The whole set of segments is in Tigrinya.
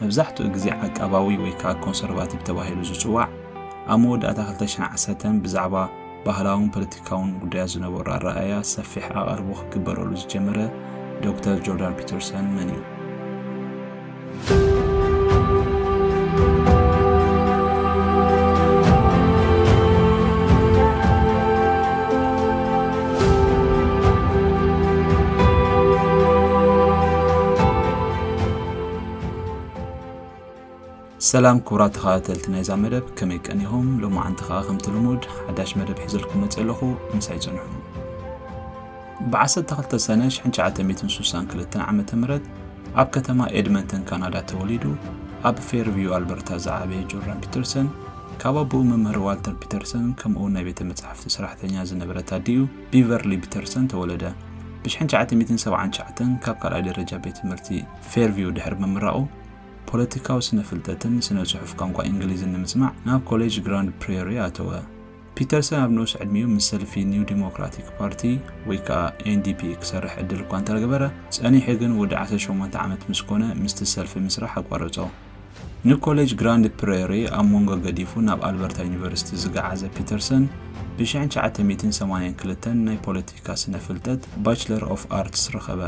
መብዛሕትኡ ግዜ ዓቃባዊ ወይ ከኣ ኮንሰርቫቲቭ ተባሂሉ ዝጽዋዕ፣ ኣብ መወዳእታ ክልተ ሽሕን ዓሰርተን ብዛዕባ ባህላውን ፖለቲካውን ጉዳያት ዝነበሮ ኣረኣእያ ሰፊሕ ኣቓልቦ ክግበረሉ ዝጀመረ ዶክተር ጆርዳን ፒተርሰን መን እዩ? ሰላም ክቡራት ተኸታተልቲ ናይዛ መደብ ከመይ ቀኒኹም? ሎማዓንቲ ከኣ ከምቲ ልሙድ ሓዳሽ መደብ ሒዘልኩም መጺ ኣለኹ ምሳይ ጽንሑ። ብ12 ሰነ 1962 ዓ ም ኣብ ከተማ ኤድመንተን ካናዳ ተወሊዱ ኣብ ፌርቪው ኣልበርታ ዝዓበየ ጆርዳን ፒተርሰን ካብ ኣቦኡ መምህር ዋልተር ፒተርሰን ከምኡውን ናይ ቤተ መጻሕፍቲ ሰራሕተኛ ዝነበረት ኣዲኡ ቢቨርሊ ፒተርሰን ተወለደ። ብ1979 ካብ ካልኣይ ደረጃ ቤት ትምህርቲ ፌርቪው ድሕሪ ምምራቑ፣ ፖለቲካዊ ስነ-ፍልጠትን ስነ-ጽሑፍ ቋንቋ እንግሊዝን ንምጽናዕ ናብ ኮሌጅ ግራንድ ፕሬሪ ኣተወ። ፒተርሰን ኣብ ንኡስ ዕድሚኡ ምስ ሰልፊ ኒው ዲሞክራቲክ ፓርቲ ወይ ከኣ NDP ክሰርሕ ዕድል እኳ እንተረገበረ፣ ጸኒሑ ግን ወዲ ዓሰርተ ሸሞንተ ዓመት ምስ ኮነ ምስቲ ሰልፊ ምስራሕ ኣቋረጾ። ንኮሌጅ ግራንድ ፕሬሪ ኣብ መንጎ ገዲፉ ናብ ኣልበርታ ዩኒቨርሲቲ ዝገዓዘ ፒተርሰን፣ ብ1982 ናይ ፖለቲካ ስነ ፍልጠት ባችለር ኦፍ ኣርትስ ረኸበ።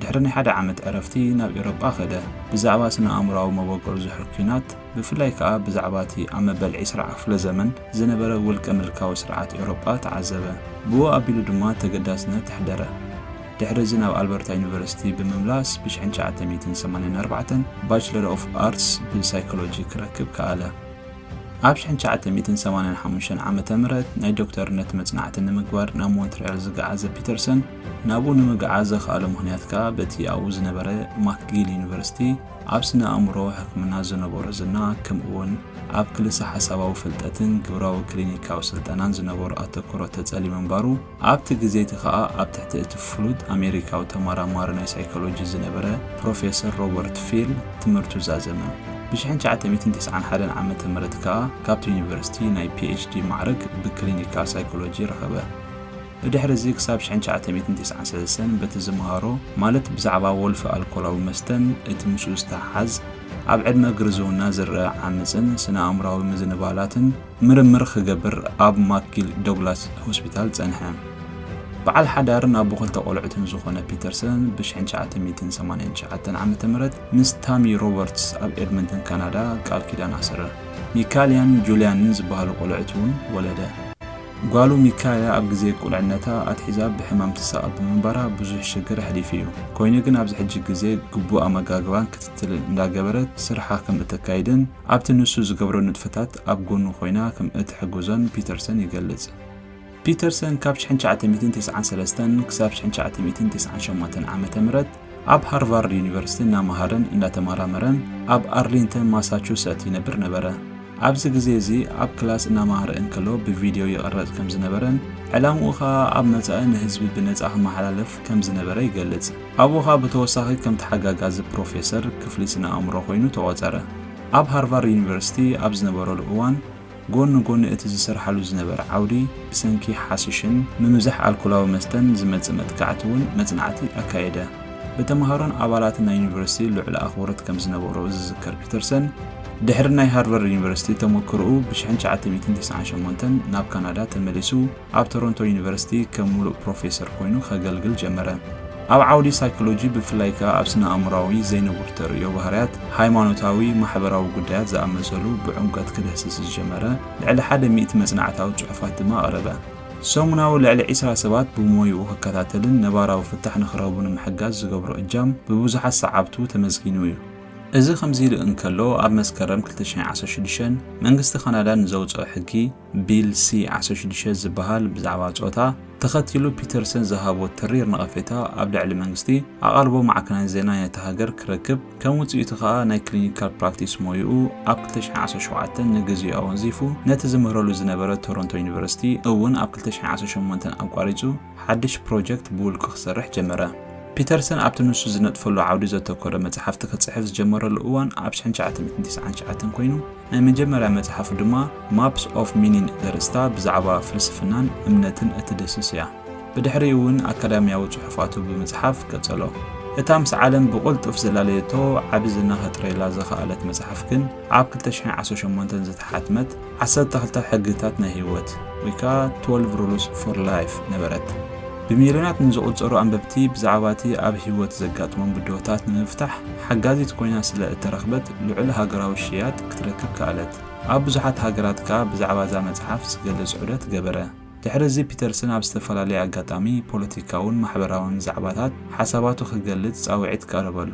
ድሕሪ ናይ ሓደ ዓመት ዕረፍቲ ናብ ኤውሮጳ ከደ። ብዛዕባ ስነ ኣእምሮኣዊ መበቆል ዝሑል ኲናት፣ ብፍላይ ከኣ ብዛዕባ እቲ ኣብ መበል ዕስራ ክፍለ ዘመን ዝነበረ ውልቀ ምልካዊ ስርዓት ኤውሮጳ ተዓዘበ። ብኡ ኣቢሉ ድማ ተገዳስነት ኣሕደረ። ድሕሪ እዚ ናብ ኣልበርታ ዩኒቨርሲቲ ብምምላስ ብ ሽሕን ትሽዓተ ሚእትን ሰማንያን ኣርባዕተን ባችለር ኦፍ ኣርትስ ብሳይኮሎጂ ክረክብ ከኣለ። ኣብ ሽሕን ትሽዓተ ሚእትን ሰማንያን ሓሙሽተን ዓመተ ምህረት ናይ ዶክተርነት መጽናዕቲ ንምግባር ናብ ሞንትርያል ዝገዓዘ ፒተርሰን፣ ናብኡ ንምግዓዝ ዘኽኣሎ ምኽንያት ከኣ በቲ ኣብኡ ዝነበረ ማክጊል ዩኒቨርሲቲ ኣብ ስነ ኣእምሮ ሕክምና ዝነበሮ ዝና ከምኡ'ውን ኣብ ክልሰ-ሓሳባዊ ፍልጠትን ግብራዊ ክሊኒካዊ ስልጠናን ዝነበሮ ኣተኩሮ ተጸልዩ ምንባሩ ኣብቲ ግዜ እቲ ኸኣ ኣብ ትሕቲ እቲ ፍሉጥ ኣሜሪካዊ ተመራማሪ ናይ ሳይኮሎጂ ዝነበረ ፕሮፌሰር ሮበርት ፊል ትምህርቱ ዛዘመ። ብሽሕን ትሽዓተ ሚእትን ተስዓን ሓደን ዓመተ ምህረት ከኣ ካብቲ ዩኒቨርሲቲ ናይ ፒኤችዲ ማዕርግ ብክሊኒካል ሳይኮሎጂ ረኸበ። ብድሕርዚ ክሳብ ሽሕን ትሽዓተ ሚእትን ተስዓን ሰለስተን በቲ ዝመሃሮ ማለት ብዛዕባ ወልፊ ኣልኮላዊ መስተን እቲ ምስኡ ዝተሓሓዝ ኣብ ዕድመ ግርዝውና ዝርኣ ዓመጽን ስነ-ኣእምሮኣዊ ምዝንባላትን ምርምር ክገብር ኣብ ማክጊል ዶግላስ ሆስፒታል ጸንሐ። በዓል ሓዳርን ኣቦ ክልተ ቆልዑትን ዝኾነ ፒተርሰን ብ1989 ዓ.ም ምስ ታሚ ሮበርትስ ኣብ ኤድመንተን ካናዳ ቃል ኪዳን ኣሰረ። ሚካልያን ጁልያንን ዝበሃሉ ቆልዑት እውን ወለደ። ጓሉ ሚካልያ ኣብ ግዜ ቁልዕነታ ኣትሒዛ ብሕማም ትሳቐ ብምንባራ ብዙሕ ሽግር ኣሕሊፉ እዩ። ኮይኑ ግን ኣብዚ ሕጂ ግዜ ግቡእ ኣመጋግባን ክትትልን እንዳገበረት ስርሓ ከም እተካይድን፣ ኣብቲ ንሱ ዝገብሮ ንጥፈታት ኣብ ጎኑ ኮይና ከም እትሕግዞን ፒተርሰን ይገልጽ። ፒተርሰን ካብ ሽሕን ትሽዓተ ሚእትን ተስዓን ሰለስተን ክሳብ ሽሕን ትሽዓተ ሚእትን ተስዓን ሸሞንተን ዓመተ ምህረት ኣብ ሃርቫርድ ዩኒቨርሲቲ እናመሃረን እናተመራመረን ኣብ ኣርሊንተን ማሳቹሰት ይነብር ነበረ። ኣብዚ ግዜ እዚ ኣብ ክላስ እናመሃረ እንከሎ ብቪድዮ ይቕረጽ ከም ዝነበረን ዕላምኡ ከኣ ኣብ መጻኢ ንህዝቢ ብነጻ ክመሓላለፍ ከም ዝነበረ ይገልጽ። ኣብኡ ኸኣ ብተወሳኺ ከም ተሓጋጋዚ ፕሮፌሰር ክፍሊ ስነ-ኣእምሮ ኰይኑ ተቖጸረ። ኣብ ሃርቫርድ ዩኒቨርሲቲ ኣብ ዝነበረሉ እዋን፣ ጐኒ ጐኒ እቲ ዝሰርሓሉ ዝነበረ ዓውዲ፣ ብሰንኪ ሓሽሽን ምምዛሕ ኣልኮላዊ መስተን ዝመጽእ መጥቃዕቲ እውን መጽናዕቲ ኣካየደ። ብተመሃሮን ኣባላትን ናይ ዩኒቨርሲቲ ልዑል ኣኽብሮት ከም ዝነበሮ ዝዝከር ፒተርሰን፣ ድሕሪ ናይ ሃርቫርድ ዩኒቨርሲቲ ተመክሮኡ ብ ትሽዓተ ሚእትን ተስዓን ሸሞንተን ናብ ካናዳ ተመሊሱ፣ ኣብ ቶሮንቶ ዩኒቨርሲቲ ከም ምሉእ ፕሮፌሰር ኰይኑ ኼገልግል ጀመረ። ኣብ ዓውዲ ሳይኮሎጂ፣ ብፍላይ ከኣ ኣብ ስነ-ኣእምሮኣዊ ዘይንቡር ተርእዮ ባህርያት፣ ሃይማኖታዊ፣ ማሕበራዊ ጕዳያት ዝኣመሰሉ ብዕምቈት ኪድህስስ ዝጀመረ ልዕሊ ሓደ ሚእቲ መጽናዕታዊ ጽሑፋት ድማ ኣቕረበ። ሰሙናዊ ልዕሊ ዕስራ ሰባት ብሞያኡ ኺከታተልን ነባራዊ ፍታሕ ንኺረኽቡ ንምሕጋዝ ዚገብሮ እጃም ብብዙሓት ሰዓብቱ ተመስጊኑ እዩ። እዚ ኸምዚ ኢሉ እንከሎ፣ ኣብ መስከረም ክልተ ሽሕን ዓሰርተ ሽዱሽተን መንግስቲ ካናዳ ንዘውጽኦ ሕጊ፣ ቢል ሲ ዓሰርተ ሽዱሽተ ዝበሃል ብዛዕባ ጾታ ተኸቲሉ ፒተርሰን ዝሃቦ ተሪር ነቐፌታ ኣብ ልዕሊ መንግስቲ ኣቓልቦ ማዕከናት ዜና ናይታ ሃገር ክረክብ ከም ውጽኢቱ ከኣ ናይ ክሊኒካል ፕራክቲስ ሞይኡ ኣብ ክልተ ሽሕን ዓሰርተ ሸውዓተን ንግዜኡ ኣወንዚፉ ነቲ ዝምህረሉ ዝነበረ ቶሮንቶ ዩኒቨርሲቲ እውን ኣብ ክልተ ሽሕን ዓሰርተ ሸሞንተን ኣቋሪጹ ሓድሽ ፕሮጀክት ብውልቁ ክሰርሕ ጀመረ። ፒተርሰን ኣብቲ ንሱ ዝነጥፈሉ ዓውዲ ዘተኮረ መጽሓፍቲ ክጽሕፍ ዝጀመረሉ እዋን ኣብ ሽሕን ትሽዓተ ሚእትን ትስዓን ትሽዓተን ኰይኑ፣ ናይ መጀመርያ መጽሓፉ ድማ ማፕስ ኦፍ ሚኒን ዘርእስታ ብዛዕባ ፍልስፍናን እምነትን እትድህስስ እያ። ብድሕሪኡ'ውን ኣካዳምያዊ ጽሑፋቱ ብምጽሓፍ ቀጸሎ። እታ ምስ ዓለም ብቕልጡፍ ዘላለየቶ ዓቢ ዝና ከጥርየላ ዝኸኣለት መጽሓፍ ግን ኣብ ክልተ ሽሕን ዓሰርተ ሸሞንተን ዝተሓትመት ዓሰርተ ክልተ ሕግታት ናይ ህይወት ወይ ከኣ ትወልቭ ሩልስ ፎር ላይፍ ነበረት። ብሚልዮናት ንዝቝጸሩ ኣንበብቲ ብዛዕባ እቲ ኣብ ህይወት ዘጋጥሞም ብድሆታት ንምፍታሕ ሓጋዚት ኰይና ስለ እተረኽበት ልዑል ሃገራዊ ሽያጥ ክትረክብ ከኣለት። ኣብ ብዙሓት ሃገራት ከኣ ብዛዕባ እዛ መጽሓፍ ዝገልጽ ዑደት ገበረ። ድሕሪ እዚ ፒተርሰን ኣብ ዝተፈላለየ ኣጋጣሚ ፖለቲካውን ማሕበራውን ዛዕባታት ሓሳባቱ ክገልጽ ጻውዒት ቀረበሉ።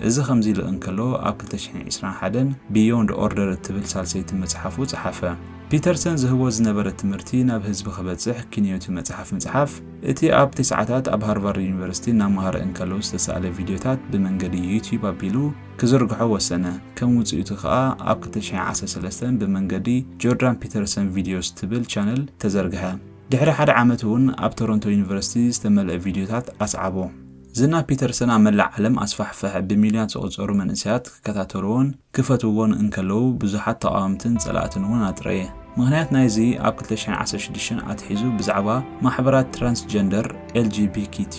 እዚ ከምዚ ኢሉ እንከሎ፣ ኣብ ክልተ ሽሕን ዒስራን ሓደን Beyond Order እትብል ሳልሰይቲ መጽሓፉ ጸሓፈ። ፒተርሰን ዝህቦ ዝነበረ ትምህርቲ ናብ ህዝቢ ክበጽሕ ኪንዮ'ቲ መጽሓፍ ምጽሓፍ፣ እቲ ኣብ ተስዓታት ኣብ ሃርቫርድ ዩኒቨርሲቲ እናመሃረ እንከሎ ዝተሳእለ ቪድዮታት ብመንገዲ ዩትዩብ ኣቢሉ ክዝርግሖ ወሰነ። ከም ውጽኢቱ ከኣ ኣብ ክልተ ሽሕን ዓሰርተ ሰለስተን ብመንገዲ ጆርዳን ፒተርሰን ቪድዮስ እትብል ቻነል ተዘርግሐ። ድሕሪ ሓደ ዓመት'ውን ኣብ ቶሮንቶ ዩኒቨርሲቲ ዝተመልአ ቪድዮታት ኣስዓቦ። ዝና ፒተርሰን ኣብ መላእ ዓለም ኣስፋሕፈሐ፣ ብሚልዮናት ዝቑጸሩ መንእሰያት ክከታተልዎን ክፈትውዎን እንከለዉ፣ ብዙሓት ተቓወምትን ጸላእትን እውን ኣጥረየ። ምኽንያት ናይዚ ኣብ ክልተ ሽሕን ዓሰርተ ሽዱሽተን ኣትሒዙ ብዛዕባ ማሕበራት ትራንስጀንደር፣ LGBKQ፣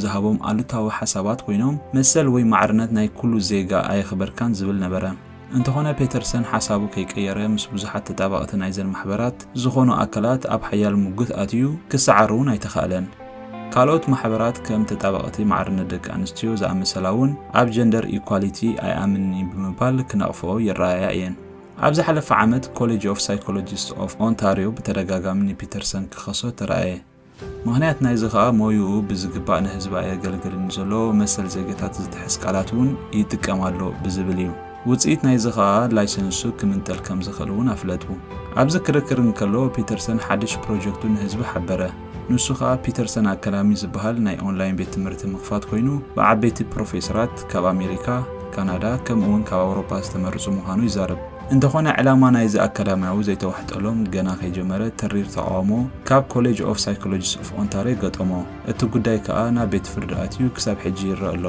ዝሃቦም ኣሉታዊ ሓሳባት ኮይኖም፣ መሰል ወይ ማዕርነት ናይ ኩሉ ዜጋ ኣየኽበርካን ዝብል ነበረ። እንተኾነ ፔተርሰን ሓሳቡ ከይቀየረ ምስ ብዙሓት ተጣባቕቲ ናይዘን ማሕበራት ዝኾኑ ኣካላት ኣብ ሓያል ሙግት ኣትዩ፣ ክሰዓር እውን ኣይተኻእለን። ካልኦት ማሕበራት ከም ተጣባቕቲ ማዕርነት ደቂ ኣንስትዮ ዝኣመሰላ እውን ኣብ ጀንደር ኢኳሊቲ ኣይኣምንን እዩ ብምባል ክነቕፈኦ ይረኣያ እየን። ኣብ ዝሓለፈ ዓመት ኮሌጅ ኦፍ ሳይኮሎጂስት ኦፍ ኦንታርዮ ብተደጋጋሚ ንፒተርሰን ክኸሶ ተራእየ። ምኽንያት ናይዚ ከኣ ሞይኡ ብዝግባእ ንህዝቢ ኣየገልግልን ንዘሎ መሰል ዜጋታት ዝጥሕስ ቃላት እውን ይጥቀም ኣሎ ብዝብል እዩ። ውጽኢት ናይዚ ከኣ ላይሰንሱ ክምንጠል ከም ዝኽእል እውን ኣፍለጡ። ኣብዚ ክርክር እንከሎ ፒተርሰን ሓድሽ ፕሮጀክቱ ንህዝቢ ሓበረ። ንሱ ከኣ ፒተርሰን ኣከዳሚ ዝበሃል ናይ ኦንላይን ቤት ትምህርቲ ምኽፋት ኮይኑ ብዓበይቲ ፕሮፌሰራት ካብ ኣሜሪካ፣ ካናዳ ከምኡ'ውን ካብ ኣውሮጳ ዝተመርጹ ምዃኑ ይዛረብ። እንተኾነ ዕላማ ናይዚ ኣካዳሚያዊ ዘይተዋሕጠሎም ገና ከይጀመረ ተሪር ተቓውሞ ካብ ኮሌጅ ኦፍ ሳይኮሎጂስ ኦፍ ኦንታርዮ ገጠሞ። እቲ ጉዳይ ከኣ ናብ ቤት ፍርዲ ኣትዩ ክሳብ ሕጂ ይረእ ኣሎ።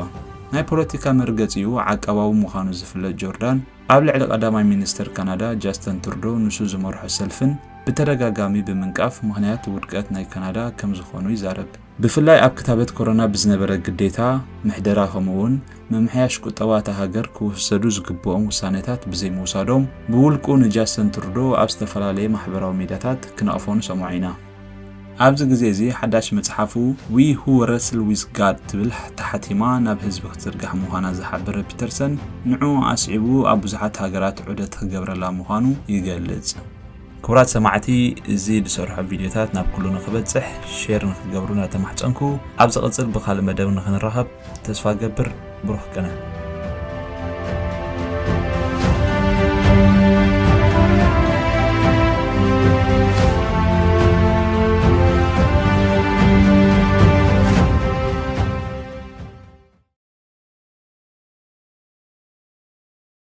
ናይ ፖለቲካ መርገጺኡ ዓቃባዊ ምዃኑ ዝፍለጥ ጆርዳን ኣብ ልዕሊ ቀዳማይ ሚኒስተር ካናዳ ጃስተን ትርዶ ንሱ ዝመርሖ ሰልፍን ብተደጋጋሚ ብምንቃፍ ምኽንያት ውድቀት ናይ ካናዳ ከምዝኾኑ ይዛረብ። ብፍላይ ኣብ ክታበት ኮሮና ብዝነበረ ግዴታ ምሕደራ ከምኡ'ውን ምምሕያሽ ቁጠባ እታ ሃገር ክውሰዱ ዝግብኦም ውሳኔታት ብዘይምውሳዶም ብውልቁ ንጃሰን ትሩዶው ኣብ ዝተፈላለየ ማሕበራዊ ሚድያታት ክነቕፎ ንሰምዖ ኢና። ኣብዚ ግዜ እዚ ሓዳሽ መጽሓፉ We Who Wrestle With God ትብል ተሓቲማ ናብ ህዝቢ ክትዝርጋሕ ምዃና ዝሓበረ ፒተርሰን ንዕኡ ኣስዒቡ ኣብ ብዙሓት ሃገራት ዑደት ክገብረላ ምዃኑ ይገልጽ። ክቡራት ሰማዕቲ እዚ ዝሰርሖ ቪድዮታት ናብ ኩሉ ንክበጽሕ ሼር ንክትገብሩ እናተማሕጸንኩ ኣብ ዝቕጽል ብካልእ መደብ ንክንራኸብ ተስፋ እገብር ብሩኽ ቅነ